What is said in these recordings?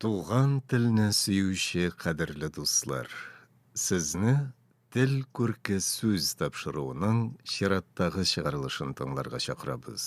Туган телне сөюче кадерле дуслар, сезне Тел күрке сүз тапшыруының чираттагы чыгарылышын тыңларга чакырабыз.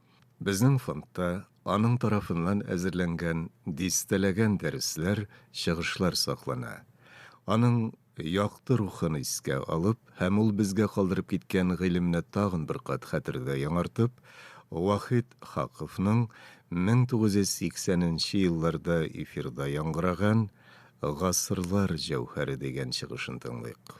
Безнең фондта аның тарафыннан әзерләнгән дистәләгән дәресләр, чыгышлар саклана. Аның якты рухын искә алып һәм ул безгә калдырып киткән гыйлемне тагын бер кат хәтердә яңартып, Вахит Хаковның 1980 нче елларда эфирда яңгыраган Гасырлар җәүһәре дигән чыгышын тыңлыйк.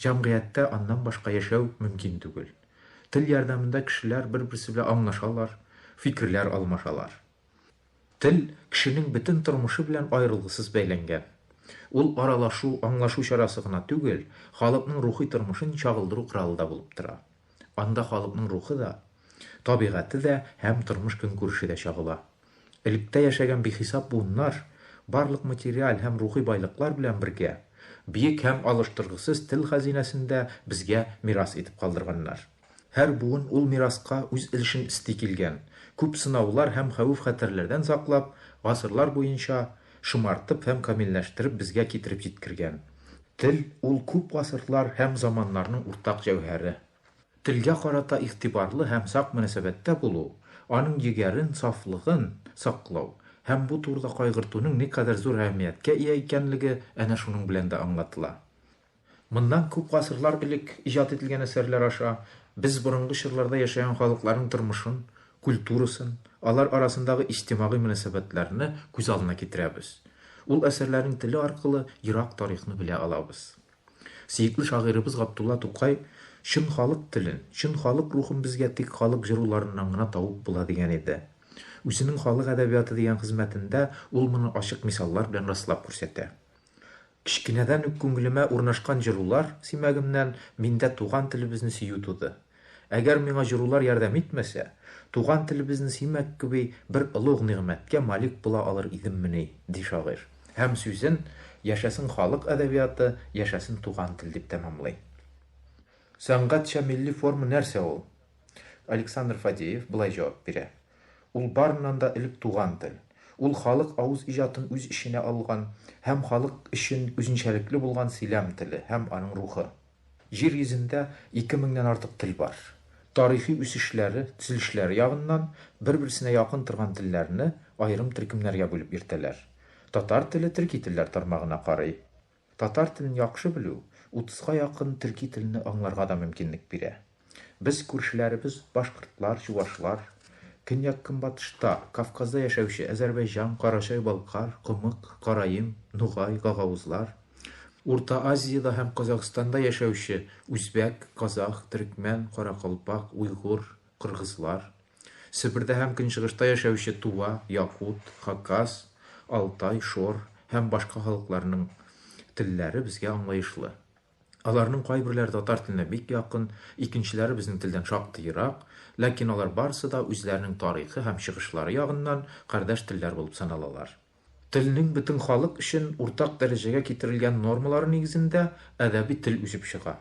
Җәмгыятьтә аннан башка яшәү мөмкин түгел. Тел ярдәмендә кешеләр бер-берсе белән аңлашалар, фикерләр алмашалар. Тел кешенең бөтен тормышы белән аерылгысыз бәйләнгән. Ул аралашу, аңлашу чарасы гына түгел, халыкның рухи тормышын чагылдыру коралы да булып тора. Анда халыкның рухы да, табигате дә һәм тормыш-көнкүреше дә чагыла. Электә яшәгән бихисап буыннар, барлык материаль һәм рухи байлыклар белән бергә, биек һәм алыштыргысыз тел хәзинәсен дә безгә мирас итеп калдырганнар. Һәр буын ул мираска үз өлешен өсти килгән, күп сынаулар һәм хәвеф-хәтәрләрдән саклап, гасырлар буенча шомартып һәм камилләштереп безгә китереп җиткергән. Тел, ул күп гасырлар һәм заманнарның уртак җәүһәре. Телгә карата игътибарлы һәм сак мөнәсәбәттә булу, аның егәрен, сафлыгын саклау һәм бу турыда кайгыртуның никадәр зур әһәмияткә ия икәнлеге әнә шуның белән дә аңлатыла. Моннан күп гасырлар элек иҗат ителгән әсәрләр аша без борынгы чорларда яшәгән халыкларның тормышын, культурасын, алар арасындагы иҗтимагый мөнәсәбәтләрне күз алдына китерәбез. Ул әсәрләрнең теле аркылы ерак тарихны белә алабыз. Сөекле шагыйребыз Габдулла Тукай Чын халык телен, чын халык рухын безгә тик халык җыруларыннан гына табып була дигән иде. Үзенең Халык әдәбияты дигән хезмәтендә ул моны ачык мисаллар белән раслап күрсәтә. Кечкенәдән үк күңелемә урнашкан җырулар симәгемнән миндә туган телебезне сөю туды. Әгәр миңа җырулар ярдәм итмәсә, туган телебезне сөймәк кеби бер олуг нигъмәткә малик була алыр идеммени, ди шагыйрь һәм сүзен Яшәсен халык әдәбияты, яшәсен туган тел дип тәмамлый. Сәнгатьчә милли форма нәрсә ул? Александр Фадеев болай җавап бирә, Ул барыннан да элек туган тел. Ул халык авыз иҗатын үз эченә алган һәм халык өчен үзенчәлекле булган сөйләм теле һәм аның рухы. Җир йөзендә ике меңнән артык тел бар. Тарихи үсешләре, төзелешләре ягыннан бер-берсенә якын торган телләрне аерым төркемнәргә бүлеп йөртәләр. Татар теле төрки телләр тармагына карый. Татар телен яхшы белү утызга якын төрки телне аңларга да мөмкинлек бирә. Без күршеләребез башкортлар, чувашлар, көньяк-көнбатышта, Кавказда яшәүче Әзәрбәйҗан, Карачай-Балкар, Комык, Караим, Нугай, Гагаузлар, Урта Азиядә һәм Казакъстанда яшәүче үзбәк, казах, төрекмән, каракалпак, уйгур, кыргызлар, Себердә һәм Көнчыгышта яшәүче тува, якут, хакас, алтай, шор һәм башка халыкларның телләре безгә аңлаешлы. Аларның кайберләре татар теленә бик якын, икенчеләре безнең телдән шактый ерак, ләкин алар барысы да үзләренең тарихы һәм чыгышлары ягыннан кардәш телләр булып саналалар. Телнең бөтен халык өчен уртак дәрәҗәгә китерелгән нормалары нигезендә әдәби тел үсеп чыга.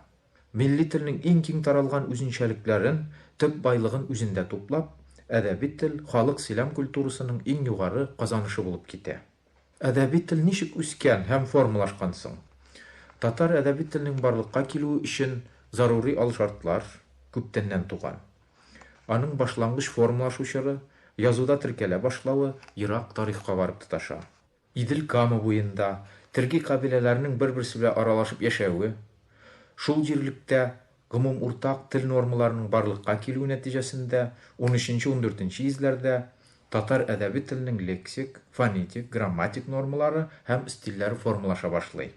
Милли телнең иң киң таралган үзенчәлекләрен, төп байлыгын үзендә туплап, әдәби тел халык сөйләм культурасының иң югары казанышы булып китә. Әдәби тел ничек үскән һәм формалашкан соң? Татар әдәби теленең барлыкка килүе өчен зарури алшартлар күптәннән туган. Аның башлангыч формалашу чоры, язуда теркәлә башлавы ерак тарихка барып тоташа. Идел Кама буенда терги кабиләләрнең бер-берсе белән аралашып яшәве, шул җирлектә Гомум уртак тел нормаларының барлыкка килүе нәтиҗәсендә унөченче-ундүртенче йөзләрдә татар әдәби теленең лексик, фонетик, грамматик нормалары һәм стильләре формалаша башлый.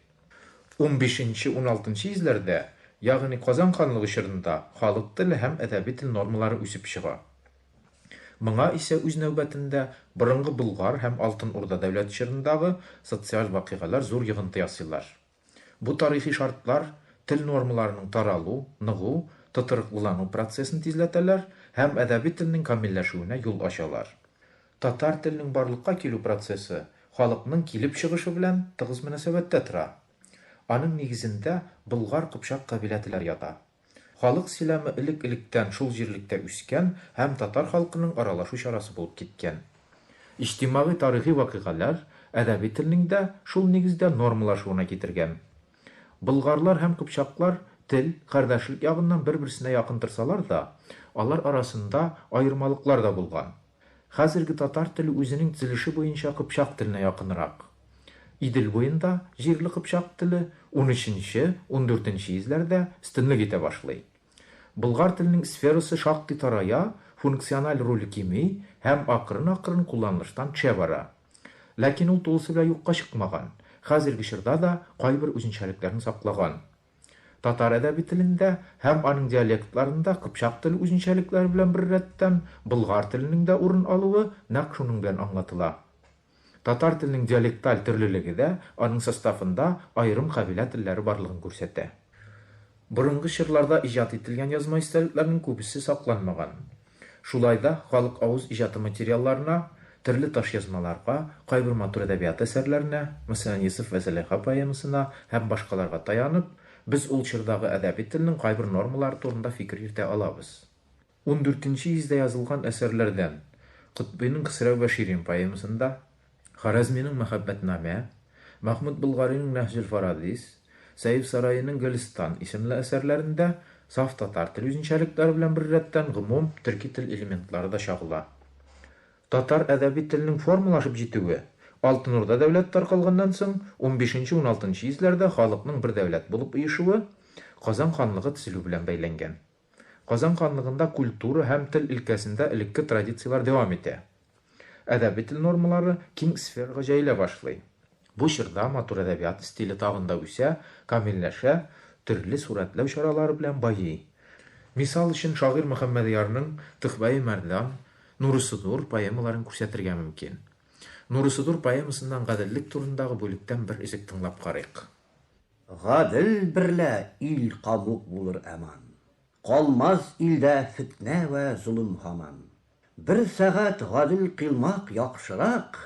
Унбишенче-уналтынчы йөзләрдә, ягъни Казан ханлыгы чорында халык теле һәм әдәби тел нормалары үсеп чыга. Моңа исә үз нәүбәтендә борынгы Болгар һәм Алтын Урда дәүләте чорындагы социаль вакыйгалар зур йогынты ясыйлар. Бу тарихи шартлар тел нормаларының таралу, ныгу, тотрыклылану процессын тизләтәләр һәм әдәби телнең камилләшүенә юл ачалар. Татар теленең барлыкка килү процессы халыкның килеп чыгышы белән тыгыз мөнәсәбәттә тора. Аның нигезендә Болгар-Кыпчак кабилә теләр ята. Халык силамы элек-электән шул җирлектә үскән һәм татар халкының аралашу чарасы булып киткән. Иҗтимагый-тарихи вакыйгаләр әдәби телнең дә шул нигездә нормалашуына китергән. Болгарлар һәм кыпчаклар тел, кардәшлек ягыннан бер-берсенә якын торсалар да, алар арасында аермалыклар да булган. Хәзерге татар теле үзенең төзелеше буенча кыпчак теленә якынрак. Идел буенда җирле кыпчак теле унөченче, ундүртенче йөзләрдә өстенлек итә башлый. Болгар теленең сферасы шактый тарая, функциональ роле кими һәм акрын-акрын кулланылыштан төшә бара. Ләкин ул тулысы белән юкка чыкмаган, хәзерге чорда да кайбер үзенчәлекләрен саклаган. Татар әдәби телендә һәм аның диалектларында кыпчак теле үзенчәлекләре белән беррәттән, болгар теленең дә урын алуы нәкъ шуның белән аңлатыла. Татар теленең диалекталь төрлелеге дә аның составында аерым кабилә телләре барлыгын күрсәтә. Борынгы чорларда иҗат ителгән язма истәлекләрнең күбесе сакланмаган. Шулай да халык авыз иҗаты материалларына, төрле ташъязмаларга, кайбер матур әдәбият әсәрләренә, мәсәлән, Йосыф вә Зөләйха поэмасына һәм башкаларга таянып, без ул чордагы әдәби телнең кайбер нормалары турында фикер йөртә алабыз. Ундүртенче йөздә язылган әсәрләрдән, Котбыйның Хөсрәү вә Ширин поэмасында, Харәзминең Мәхәббәтнамә, Мәхмүт Болгаринең Нәһҗел Фарадис, Сәеф Сараиның Гөлстан исемле әсәрләрендә саф татар тел үзенчәлекләре белән беррәттән гомум төрки тел элементлары да чагыла. Татар әдәби теленең формалашып җитүе Алтын Урда дәүләте таркалганнан соң унбишенче-уналтынчы йөзләрдә халыкның бер дәүләт булып оешуы, Казан ханлыгы төзелү белән бәйләнгән. Казан ханлыгында культура һәм тел өлкәсендә элекке традицияләр дәвам итә. Әдәби тел нормалары киң сферага җәелә башлый. Бу чорда матур әдәбият стиле тагын да үсә, камилләшә, төрле сурәтләү чаралары белән байый. Мисал өчен, шагыйрь Мөхәммәдъярның Төхбәи мәрдан, Нурысы дур поэмаларын күрсәтергә мөмкин. Нурысы дур поэмасыннан Гаделлек турындагы бүлектән бер өзек тыңлап карыйк. Гадел берлә ил кавук булыр әман, Калмас илдә фетнә вә золым һаман. Бер сәгать гадел кыйлмак яхшырак,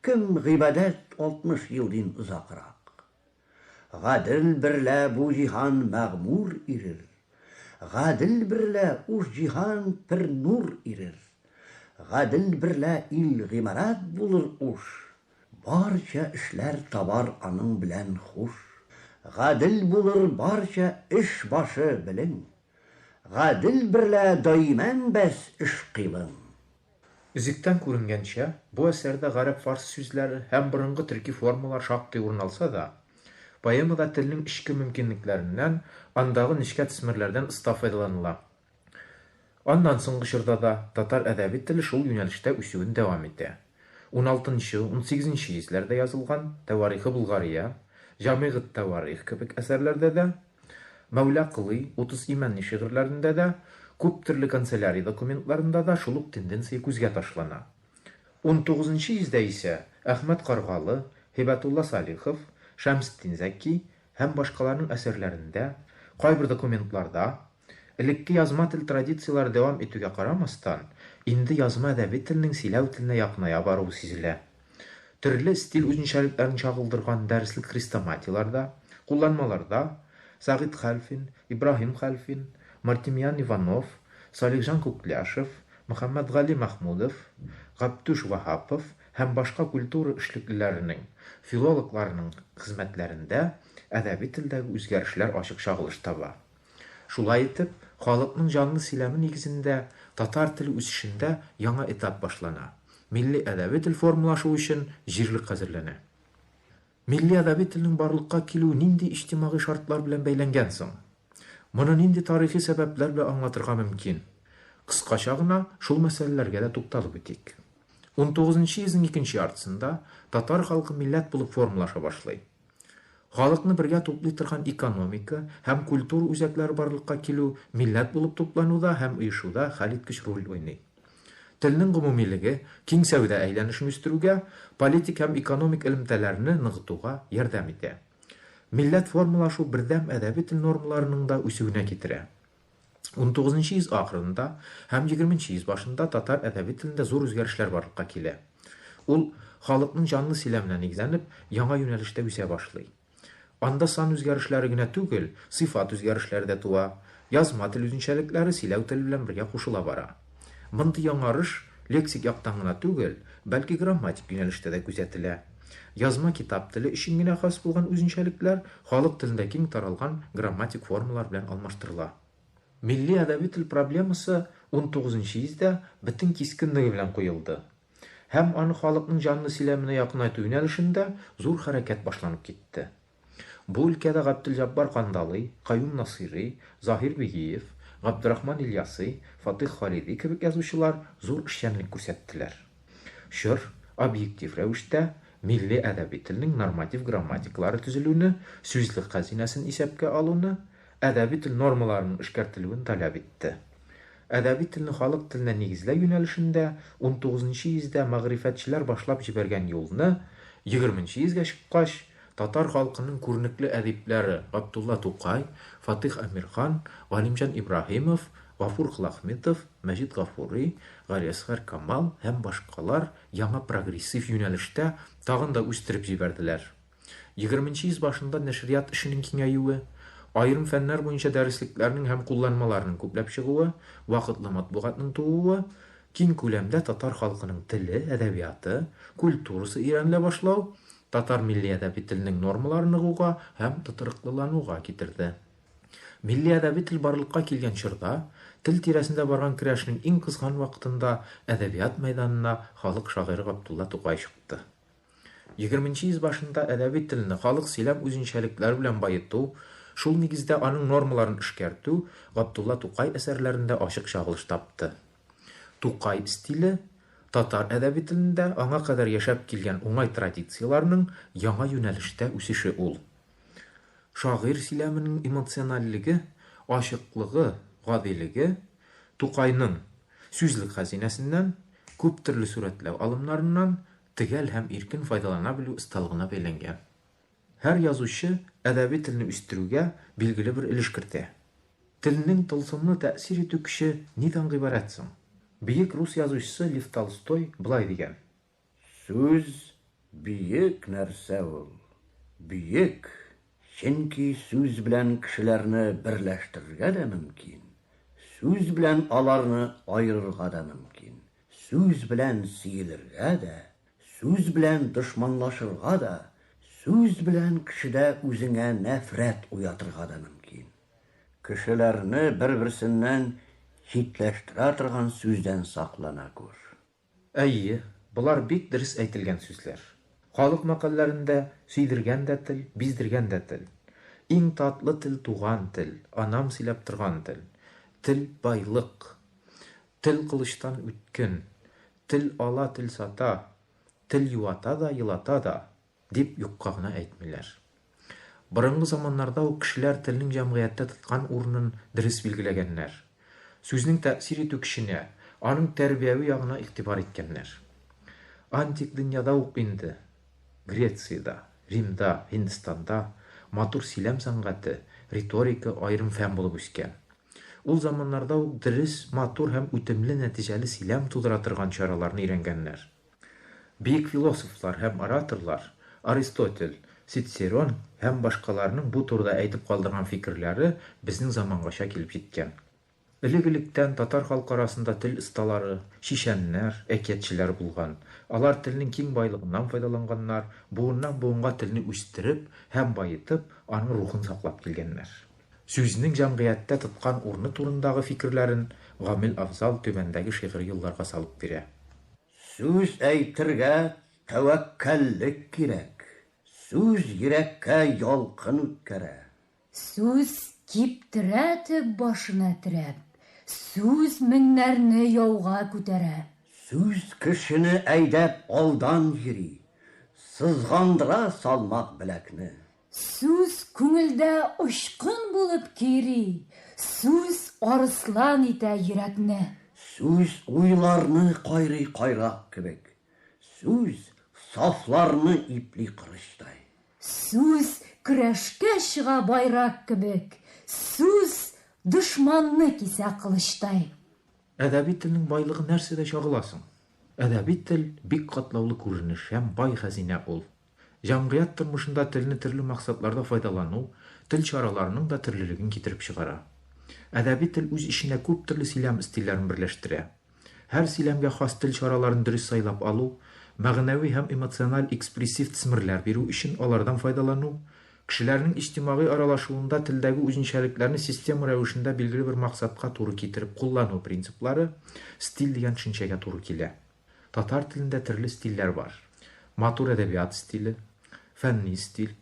Кем гыйбадәт алтмыш ел дин озакрак. Гадел берлә бу җиһан мәгъмур ирер, Гадел берлә уш җиһан пер нур ирер. Гадел берлә ил гимарат булыр уш, Барча эшләр табар аның белән хуш. Гадел булыр барча эш башы белең. Гадел берлә даимән бәс эш-кыйлың. Өзектән күренгәнчә, бу әсәрдә гарәп-фарс сүзләре һәм борынгы төрки формалар шактый урын алса да, поэмада телнең эчке мөмкинлекләреннән, андагы нечкә төсмерләрдән оста файдаланыла. Аннан соңгы чорда да татар әдәби теле шул юнәлештә үсүен дәвам итә. Уналтынчы, унсигезенче йөзләрдә язылган Тәварихы Болгария, Җамигъ ат-Тәварих кебек әсәрләрдә дә, Мәүлә Колый, Утыз имәнни шигырьләрендә дә, күптөрле канцелярия документларында да шул ук тенденция күзгә ташлана. Унтугызынчы йөздә исә Әхмәт Каргалы, Һибәтулла Салихов, Шәмсетдин Зәки һәм башкаларның әсәрләрендә, кайбер документларда, Элекке язма тел традицияләре дәвам итүгә карамастан, инде язма әдәби телнең сөйләү теленә якыная баруы сизелә. Төрле стиль үзенчәлекләрен чагылдырган дәреслек хрестоматияләрдә, кулланмаларда Сәгыйть Хәлфин, Ибраһим Хәлфин, Мартемьян Иванов, Салихҗан Күкляшев, Мөхәммәтгали Мәхмүдов, Гаптүш Ваһапов һәм башка культура эшлеклеләренең, филологларның хезмәтләрендә әдәби телдәге үзгәрешләр ачык чагылыш таба. Шулай итеп, халыкның җанлы сөйләме нигезендә татар теле үсешендә яңа этап башлана. Милли әдәби тел формалашу өчен җирлек әзерләнә. Милли әдәби телнең барлыкка килүе нинди иҗтимагый шартлар белән бәйләнгән соң? Моны нинди тарихи сәбәпләр белән аңлатырга мөмкин? Кыскача гына шул мәсьәләләргә дә тукталып үтик. Унтугызынчы йөзнең икенче яртысында татар халкы милләт булып формалаша башлый. Халыкны бергә туплый торган экономика һәм культура үзәкләре барлыкка килү, милләт булып туплануда һәм оешуда хәлиткеч роль уйный. Телнең гомумилеге киң сәүдә әйләнешен үстерүгә, политик һәм экономик элемтәләрне ныгытуга ярдәм итә. Милләт формалашу бердәм әдәби тел нормаларының да үсүенә китерә. Унтугызынчы йөз ахырында һәм егерменче йөз башында татар әдәби телендә зур үзгәрешләр барлыкка килә. Ул, халыкның җанлы сөйләменә нигезләнеп, яңа юнәлештә үсә башлый. Анда сан үзгәрешләре генә түгел, сыйфат үзгәрешләре дә туа, язма тел үзенчәлекләре сөйләү тел белән бергә кушыла бара. Мондый яңарыш лексик яктан гына түгел, бәлки грамматик юнәлештә дә күзәтелә. Язма китап теле өчен генә хас булган үзенчәлекләр халык телендә киң таралган грамматик формалар белән алмаштырыла. Милли әдәби тел проблемасы унтугызынчы йөздә бөтен кискенлеге белән куелды. Һәм аны халыкның җанлы сөйләменә якынайту юнәлешендә зур хәрәкәт башланып китте. Бу өлкәдә Габделҗаббар Кандалый, Каюм Насыйри, Заһир Бигиев, Габдрахман Ильяси, Фатыйх Халиди кебек язучылар зур эшчәнлек күрсәттеләр. Чор, объектив рәвештә, милли әдәби телнең норматив грамматикалары төзелүне, сүзлек хәзинәсен исәпкә алуны, әдәби тел нормаларының эшкәртелүен таләп итте. Әдәби телне халык теленә нигезләү юнәлешендә унтугызынчы йөздә мәгърифәтчеләр башлап җибәргән юлны егерменче йөзгә чыккач, Татар халкының күренекле әдипләре Габдулла Тукай, Фатыйх Әмирхан, Галимҗан Ибраһимов, Гафур Клахметов, Мәҗит Гафури, Галиәсгар Камал һәм башкалар яңа прогрессив юнәлештә тагын да үстереп җибәрделәр. Егерменче йөз башында нәшрият эшенең киңәюе, аерым фәннәр буенча дәреслекләрнең һәм кулланмаларның күпләп чыгуы, вакытлы матбугатның тууы, киң күләмдә татар халкының теле, әдәбияты, культурасы өйрәнелә башлау, Татар милли әдәби теленең нормалары ныгуга һәм тотрыклылануга китерде. Милли әдәби тел барлыкка килгән чорда, тел тирәсендә барган көрәшнең иң кызган вакытында әдәбият мәйданына халык шагыйре Габдулла Тукай чыкты. Егерменче йөз башында әдәби телне халык сөйләм үзенчәлекләре белән баету, шул нигездә аның нормаларын эшкәртү Габдулла Тукай әсәрләрендә ачык чагылыш тапты. Тукай стиле, татар әдәби телендә аңа кадәр яшәп килгән уңай традицияләрнең яңа юнәлештә үсеше ул. Шагыйрь сөйләменең эмоциональлеге, ачыклыгы, гадилеге Тукайның сүзлек хәзинәсеннән, күптөрле сурәтләү алымнарыннан төгәл һәм иркен файдалана белү осталыгына бәйләнгән. Һәр язучы әдәби телне үстерүгә билгеле бер өлеш кертә. Телнең тылсымлы тәэсир итү көче нидан гыйбарәт соң? Бөек рус язучысы Лев Толстой болай дигән. Сүз, бөек нәрсә ул. Бөек, чөнки сүз белән кешеләрне берләштерергә дә мөмкин, сүз белән аларны аерырга да мөмкин, сүз белән сөелергә дә, Сүз белән дошманлашырга да, сүз белән кешедә үзеңә нәфрәт уятырга да мөмкин. Кешеләрне бер-берсеннән читләштерә торган сүздән саклана күр. Әйе, болар бик дөрес әйтелгән сүзләр. Халык мәкальләрендә, Сөйдергән дә тел, биздергән дә тел. Иң татлы тел туган тел, анам сөйләп торган тел. Тел, байлык. Тел кылычтан үткен. Тел ала, тел сата, тел юата да, елата да, дип юкка гына әйтмиләр. Борынгы заманнарда ук кешеләр телнең җәмгыятьтә тоткан урынын дөрес билгеләгәннәр. Сүзнең тәэсир итү көченә, аның тәрбияви ягына игътибар иткәннәр. Антик дөньяда ук инде, Грециядә, Римда, Һиндстанда матур сөйләм сәнгате, риторика аерым фән булып үскән. Ул заманнарда ук дөрес, матур һәм үтемле нәтиҗәле сөйләм тудыра торган чараларны өйрәнгәннәр. Бөек философлар һәм ораторлар, Аристотель, Цицерон һәм башкаларның бу турыда әйтеп калдырган фикерләре безнең замангача килеп җиткән. Элек-электән татар халкы арасында тел осталары, чишәннәр, әкиятчеләр булган. Алар телнең киң байлыгыннан файдаланганнар, буыннан-буынга телне үстереп һәм баетып, аның рухын саклап килгәннәр. Сүзнең җәмгыятьтә тоткан урыны турындагы фикерләрен Гамил Афзал түбәндәге шигъри юлларга салып бирә. Сүз әйтергә тәвәккәллек кирәк. Сүз йөрәккә ялкын үткәрә. Сүз киптерә төп башына терәп. Сүз меңнәрне яуга күтәрә. Сүз кешене әйдәп алдан йөри. Сызгандыра салмак беләкне. Сүз күңелдә очкын булып кири, Сүз арыслан итә йөрәкне. Сүз уйларны кайрый кайрак кебек, Сүз сафларны ипли кырычтай. Сүз көрәшкә чыга байрак кебек, Сүз дошманны кисә кылычтай. Әдәби телнең байлыгы нәрсәдә чагыла соң? Әдәби тел, бик катлаулы күренеш һәм бай хәзинә ул. Җәмгыять тормышында телне төрле максатларда файдалану тел чараларының да төрлелеген китереп чыгара. Әдәби тел үз эченә күп төрле сөйләм стильләрен берләштерә. Һәр сөйләмгә хас тел чараларын дөрес сайлап алу, мәгънәви һәм эмоциональ экспрессив тсмрләр бирү өчен алардан файдалану, кешеләрнең иҗтимагый аралашуында телдәге үзенчәлекләрне система рәвешендә билгеле бер максатка туры китереп куллану принциплары стиль дигән төшенчәгә туры килә. Татар телендә төрле стильләр бар. Матур әдәбият стиле, фәнни стиль,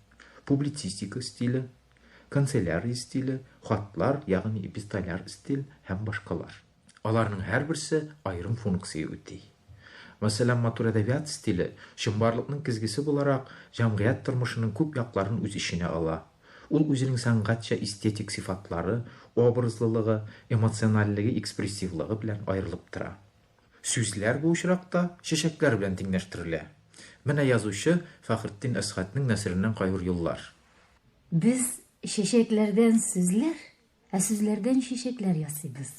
публицистика стиле, канцелярия стиле, хатлар, ягъни эпистоляр стиль һәм башкалар. Аларның һәрберсе аерым функция үти. Мәсәлән, матур әдәбият стиле, чынбарлыкның кезгесе буларак, җәмгыять тормышының күп якларын үз эченә ала. Ул үзенең сәнгатьчә эстетик сыйфатлары, образлылыгы, эмоциональлеге-экспрессивлыгы белән аерылып тора. Сүзләр бу очракта чәчәкләр белән тиңләштерелә. Менә язучы Фәхретдин Әсгатьнең нәсереннән кайбер юллар. Без чәчәкләрдән сүзләр, ә сүзләрдән чәчәкләр ясыйбыз.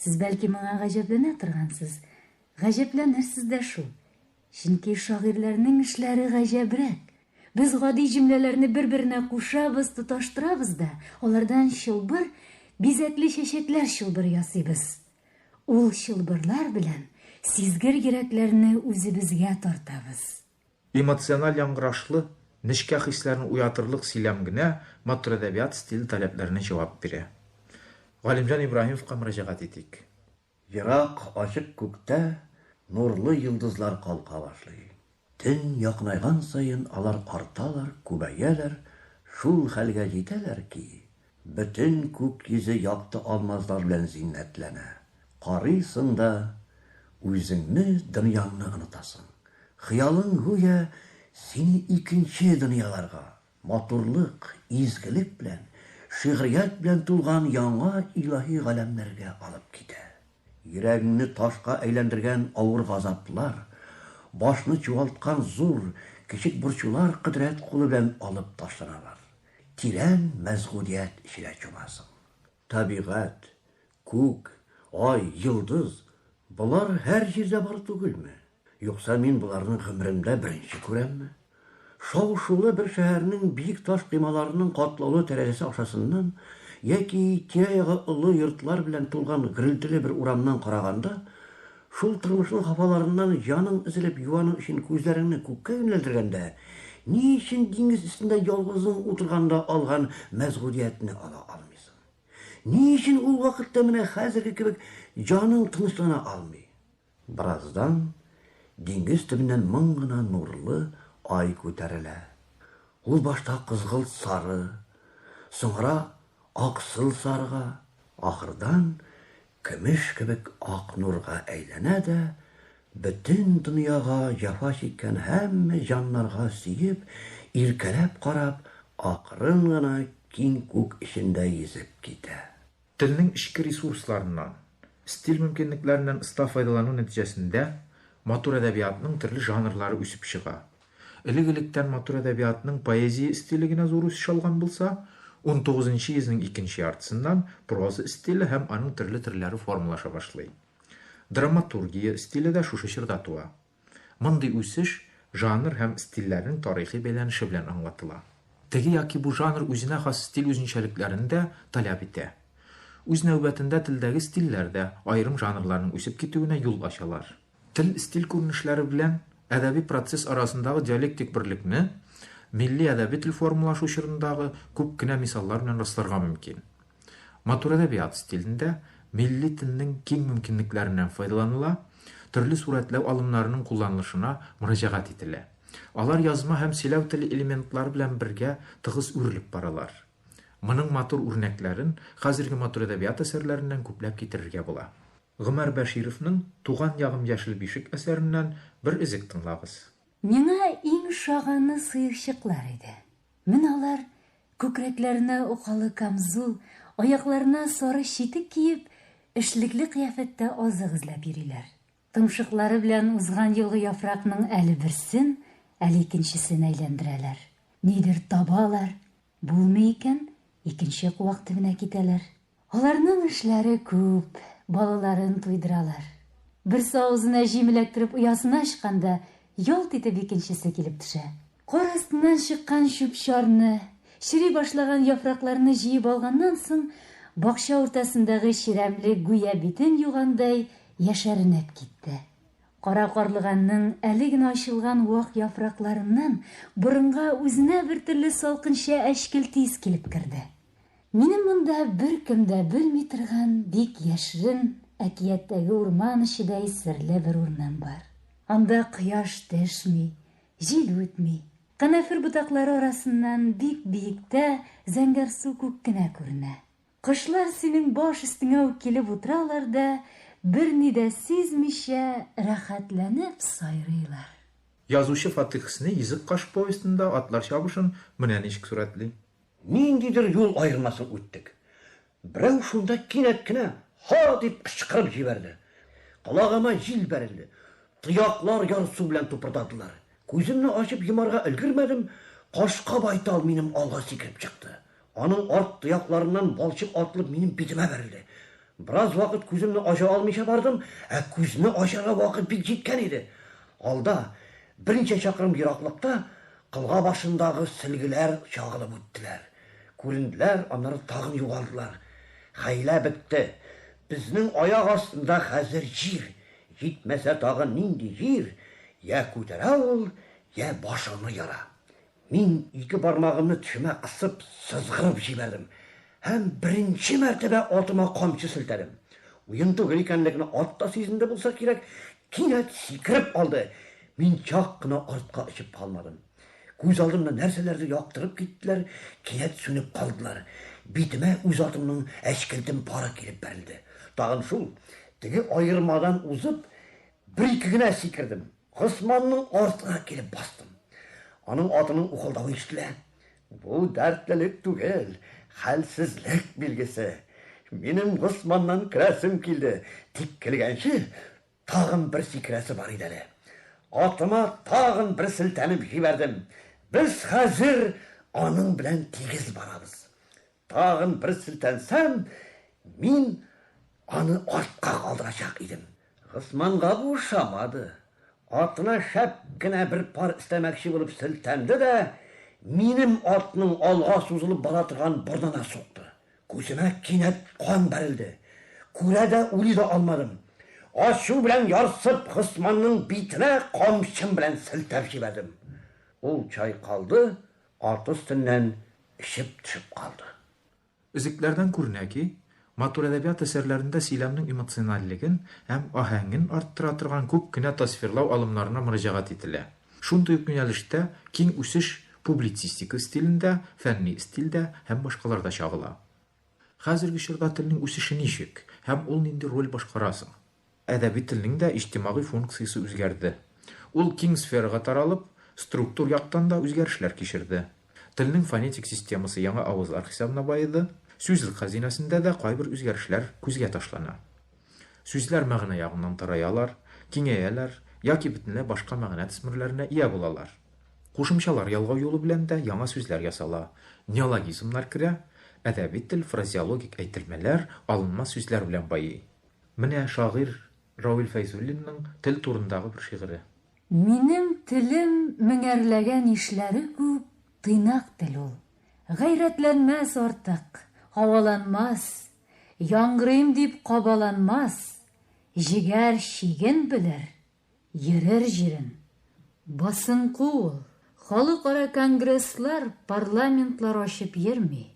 Сез бәлки моңа гаҗәпләнә торгансыз. Гаҗәпләнерсез дә шул. Чөнки шагыйрьләрнең эшләре гаҗәбрәк. Без гади җөмләләрне бер-беренә кушабыз, тоташтырабыз да, алардан чылбыр, бизәкле чәчәкләр чылбыры ясыйбыз. Ул чылбырлар белән сизгер йөрәкләрне үзебезгә тартабыз. Эмоциональ яңгырашлы, нечкә хисләрне уятырлык сөйләм генә матур әдәбият стиле таләпләренә җавап бирә. Галимҗан Ибраһимовка мөрәҗәгать итик. Ерак ачык күктә нурлы йолдызлар калка башлый. Төн якынайган саен алар арталар, күбәяләр, шул хәлгә җитәләр ки, бөтен күк йөзе якты алмазлар белән зиннәтләнә. Карыйсың да, үзеңне, дөньяңны онытасың. Хыялың, гүя, сине икенче дөньяларга, Матурлык, изгелек белән, шигърият белән тулган яңа илаһи галәмнәргә алып китә. Йөрәгеңне ташка әйләндергән авыр газаплар, башны чуалткан зур, кечек борчулар кодрәт кулы белән алып ташланалар. Тирән мәсгудият эченә чумасың. Табигать, күк, ай, йолдыз, болар һәр җирдә бар түгелме? Юкса мин боларны гомеремдә беренче күрәмме? Шау-шулы бер шәһәрнең биек таш коймаларының катлаулы тәрәзәсе ашасыннан яки тирә-ягы олы йортлар белән тулган гөрелтеле бер урамнан караганда, Шул тормышның хафаларыннан җаның өзелеп юану өчен күзләреңне күккә юнәлдергәндә, ни өчен диңгез өстендә ялгызың утырганда алган мәсгудиятне ала алмыйсың? Ни өчен ул вакытта менә хәзерге кебек җаның тынычлана алмый? Бераздан диңгез төбеннән моң гына нурлы ай күтәрелә. Ул башта кызгылт-сары, соңра аксыл-сарыга, ахырдан Көмеш кебек ак нурга әйләнә дә, бөтен дөньяга җәфа чиккән һәммә җаннарга сөеп, иркәләп карап, акрын гына киң күк эчендә йөзеп китә. Телнең эчке ресурсларыннан, стиль мөмкинлекләреннән оста файдалану нәтиҗәсендә матур әдәбиятның төрле жанрлары үсеп чыга. Элек-электән матур әдәбиятның поэзия стиле генә зур үсеш алган булса, унтугызынчы йөзнең икенче яртысыннан проза стиле һәм аның төрле төрләре формалаша башлый. Драматургия стиле дә шушы чорда туа. Мондый үсеш жанр һәм стильләрнең тарихи бәйләнеше белән аңлатыла. Теге яки бу жанр үзенә хас стиль үзенчәлекләрен дә таләп итә. Үз нәүбәтендә телдәге стильләр дә аерым жанрларның үсеп китүенә юл ачалар. Тел, стиль күренешләре белән әдәби процесс арасындагы диалектик берлекне милли әдәби тел формалашу чорындагы күп кенә мисаллар белән расларга мөмкин. Матур әдәбият стилендә милли телнең киң мөмкинлекләреннән файдаланыла, төрле сурәтләү алымнарының кулланылышына мөрәҗәгать ителә. Алар язма һәм сөйләү теле элементлары белән бергә тыгыз үрелеп баралар. Моның матур үрнәкләрен хәзерге матур әдәбият әсәрләреннән күпләп китерергә була. Гомәр Бәшировның Туган ягым яшел бишек әсәреннән бер өзек тыңлагыз. Миңа иң шаганы сыерчыклар иде. Менә алар, күкрәкләренә укалы камзул, аякларына сары читек киеп, эшлекле кыяфәттә азык эзләп йөриләр. Томшыклары белән узган елгы яфракның әле берсен, әле икенчесен әйләндерәләр. Нидер табалар, булмый икән, икенче куак төбенә китәләр. Аларның эшләре күп, балаларын туйдыралар. Берсе авызына җим эләктереп оясына ычканда, ялт итеп икенчесе килеп төшә. Кар астыннан чыккан чүп-чарны, чери башлаган яфракларны җыеп алганнан соң, бакча уртасындагы чирәмле гүя битен югандай яшәренеп китте. Кара карлыганның әле генә ачылган вак яфракларыннан борынга үзенә бертөрле салкынча әчкелтис килеп керде. Минем монда беркем дә белми торган бик яшьрен, әкияттәге урман эчедәй серле бер урман бар. Анда кояш дәшми, җил үтми. Канәфер ботаклары арасыннан бик биектә зәңгәр су күк кенә күренә. Кошлар синең баш өстеңә үк килеп утыралар да, берни дә сизмичә, рәхәтләнеп сайрыйлар. Язучы Фатыйх Сни Йөзек каш повестенда атлар чабышын менә ничек сурәтли. Ниндидер юл аермасын үттек. Берәү шунда кинәт кенә Һа! дип кычкырып җибәрде. Колагыма җил бәрелде. Тояклар ярсу белән тупырдадылар. Күземне ачып йомарга өлгермәдем, кашка байтал минем алга сикереп чыкты. Аның арт тоякларыннан балчык атылып минем битемә бәрелде. Бераз вакыт күземне ача алмыйча бардым, ә күзне ачарга вакыт бик җиткән иде. Алда, берничә чакрым ераклыкта, кылга башындагы сөлгеләр чагылып үттеләр. Күренделәр, аннары тагын югалдылар. Хәйлә бетте. Безнең аяк астында хәзер җир, җитмәсә тагын нинди җир, йә күтәрә ул, йә башыңны яра. Мин ике бармагымны тешемә кысып сызгырып җибәрдем һәм беренче мәртәбә атыма камчы селтәдем. Уен түгел икәнлеген ат та сизенде булса кирәк, кинәт сикереп алды. Мин чак кына артка очып калмадым. Күз алдымны нәрсәләрдер яктырып киттеләр, кинәт сүнеп калдылар. Битемә үз атымның әчкелтем пары килеп бәрелде. Тагын шул, теге аермадан узып, бер-ике генә сикердем. Госманның артына килеп бастым. Аның атының ухылдавы ишетелә. Бу дәртлелек түгел, хәлсезлек билгесе. Минем Госманнан керәсем килде, тик килгәнче тагын бер сикерәсе бар иде әле. Атыма тагын бер селтәнеп җибәрдем. Без хәзер аның белән тигез барабыз. Тагын бер селтәнсәм, мин аны артка калдырачак идем. Госманга бу ошамады. Атына шәп кенә бер пар өстәмәкче булып селтәнде дә, минем атның алга сузылып бара торган борынына сукты. Күземә кинәт кан бәрелде. Күрә дә, уйлый да алмадым. Ачу белән ярсып, Госманның битенә камчым белән селтәп җибәрдем. Ул чайкалды, Арты өстеннән эчеп төшеп калды. Өзекләрдән күренә ки, матур әдәбият әсәрләрендә сөйләмнең эмоциональлеген һәм аһәңен арттыра торган күп кенә тасвирлау алымнарына мөрәҗәгать ителә. Шундый ук юнәлештә киң үсеш публицистика стилендә, фәнни стильдә һәм башкаларда чагыла. Хәзерге чорда телнең үсеше ничек һәм ул нинди роль башкара соң? Әдәби телнең дә иҗтимагый функциясе үзгәрде. Ул киң сферага таралып, структур яктан да үзгәрешләр кичерде. Телнең фонетик системасы яңа авызлар хисабына баеды. Сүзлек хәзинәсендә дә кайбер үзгәрешләр күзгә ташлана. Сүзләр мәгънә ягыннан тараялар, киңәяләр яки бөтенләй башка мәгънә төсмерләренә ия булалар. Кушымчалар ялгау юлы белән дә яңа сүзләр ясала, неологизмнар керә, әдәби тел фразеологик әйтелмәләр, алынма сүзләр белән байый. Менә шагыйрь Равил Фәйзуллинның тел турындагы бер шигыре. Минем телем меңәрләгән ишләре күп тыйнак тел ул. Гайрәтләнмәс артык, һаваланмас, яңгырыйм дип кабаланмас, җегәр чиген белер, Йөрер җирең, басынку ул. Халыкара конгресслар, парламентлар ачып йөрми,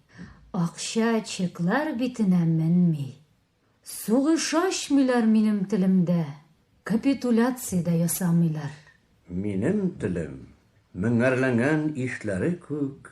акча, чеклар битенә менми. Сугыш ачмыйлар минем телемдә, капитуляция дә ясамыйлар. Минем телем, меңәрләнгән ишләре күк,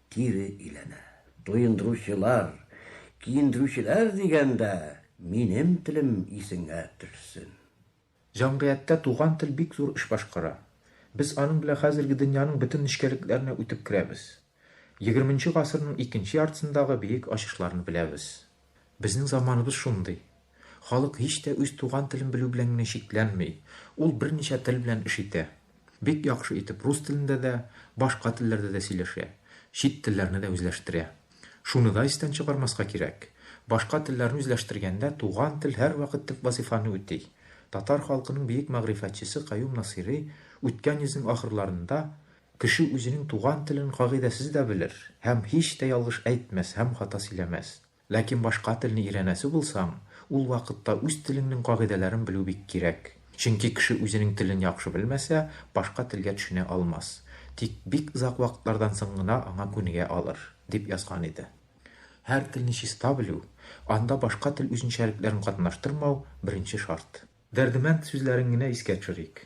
кире иләнә. Туендыручылар, киендерүчеләр дигәндә, минем телем исеңә төшсен. Җәмгыятьтә туган тел бик зур эш башкара. Без аның белән хәзерге дөньяның бөтен нечкәлекләренә үтеп керәбез. Егерменче гасырның икенче яртысындагы биек ачышларны беләбез. Безнең заманыбыз шундый. Халык һич тә үз туган телен белү белән генә чикләнми, ул берничә тел белән эш итә. Бик яхшы итеп рус телендә дә, башка телләрдә дә сөйләшә, чит телләрне дә үзләштерә. Шуны да истән чыгармаска кирәк, башка телләрне үзләштергәндә туган тел һәрвакыт төп вазифаны үти. Татар халкының бөек мәгърифәтчесе Каюм Насыйри үткән йөзнең ахырларында Кеше үзенең туган телен кагыйдәсез дә белер һәм һич тә ялгыш әйтмәс һәм хата сөйләмәс. Ләкин башка телне өйрәнәсе булсаң, ул вакытта үз телеңнең кагыйдәләрен белү бик кирәк. Чөнки кеше үзенең телен яхшы белмәсә, башка телгә төшенә алмас, тик бик озак вакытлардан соң гына аңа күнегә алыр, дип язган иде. Һәр телне чиста белү, анда башка тел үзенчәлекләрен катнаштырмау беренче шарт. Дәрдемәнд сүзләрен генә искә төшерик.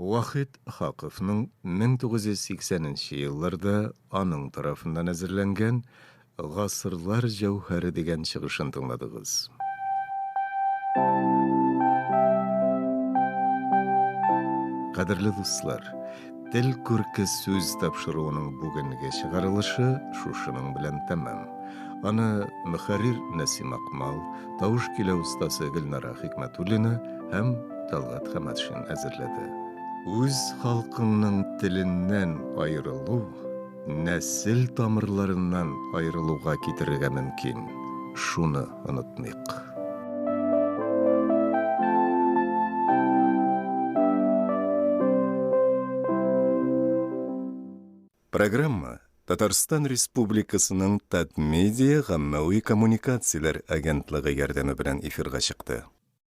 Вахит Хакыйфның 1980 нче елларда аның тарафыннан әзерләнгән Гасырлар җәүһәре дигән чыгышын тыңладыгыз. Кадерле дуслар, Тел күрке сүз тапшыруының бүгенге чыгарылышы шушының белән тәмам. Аны мөхәррир Нәсим Акмал, тавыш килә устасы Гөлнара Хикмәтуллина һәм Талгат Хәмәтшин әзерләде. Үз халкыңның теленнән аерылу нәсел тамырларыннан аерылуга китерергә мөмкин, шуны онытмыйк. Программа Татарстан Республикасының Татмедиа гаммәви коммуникацияләр агентлыгы ярдәме белән эфирга чыкты.